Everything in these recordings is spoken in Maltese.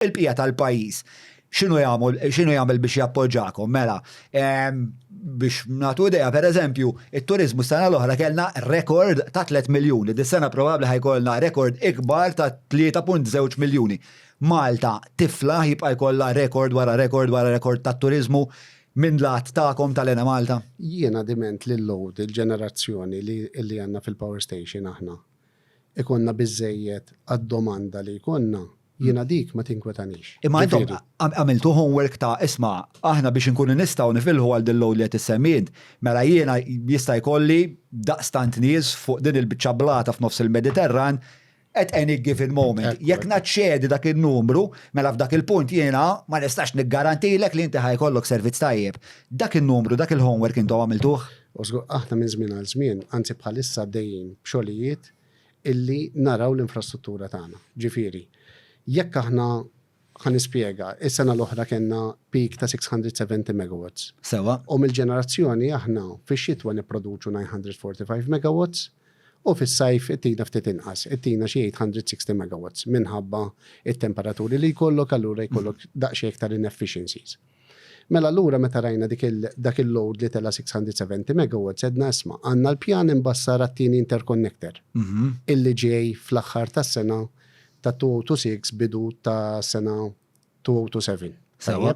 Il-bqija tal-pajjiż x'inhu jagħmel x'inhu jagħmel biex jappoġġakom? Mela, biex nagħtu idea, pereżempju, it-turiżmu s-sena l-oħra kellna rekord ta' 3 miljuni. Dis-sena probabbli ħajkollna rekord ikbar ta' 3.2 miljuni. Malta tiflaħ jibqa' jkollha rekord wara rekord wara rekord tat-turiżmu minn lat tagħkom tal-Enemalta? Jiena diment li l-load, il-ġenerazzjoni li għandna fil-power station aħna, ikollna biżżejjed għad-domanda li jkollna, jiena dik ma tinkwetanix. Imma intom għamiltu homework ta' isma' aħna biex inkunu nistgħu nifilħu għal din l-għolja li qed issemmi int, mela jiena jista' jkolli daqstant nies fuq din il-biċċa blata f'nofs il-Mediterran at any given moment. Jekk naċċedi dak in-numru, mela f'dak il-punt jiena ma nistax niggarantilek li inti ħa jkollok servizz tajjeb. Dak in-numru, dak il-homework intom għamiltuh? U żgur aħna minn żmien għal żmien, anzi bħalissa għaddejjin b'xogħlijiet illi naraw l-infrastruttura tagħna. Ġifieri, jekk aħna, ħa nispjega, is-sena l-oħra kellna peak ta' 670 megawatts. Sewwa. U mill-ġenerazzjoni aħna fix-xitwa nipproduċu 945 megawatts u fis-sajf ittina ftit inqas, ittina xi 860 megawatts minħabba t-temperaturi li jkollok allura jkollok daqsxejn iktar inefficiencies. Mela allura meta rajna dik il dak il-load li tela' 670 megawatts għedna isma' għandna l-pjan imbassar għat-tieni interconnector illi ġej fl-aħħar tas-sena ta' 2026 bidu tas-sena 2027. Sewa.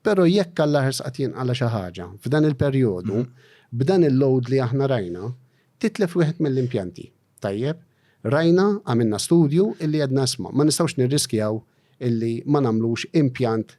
Però jekk Alla ħersqa tinqala' xi ħaġa f'dan il-perjodu, b'dan il-load li aħna rajna, titlef wieħed mill-impjanti. Tajjeb? Rajna, għamilna studju illi għedna isma' ma nistgħux nirriskjaw illi ma nagħmlux impjant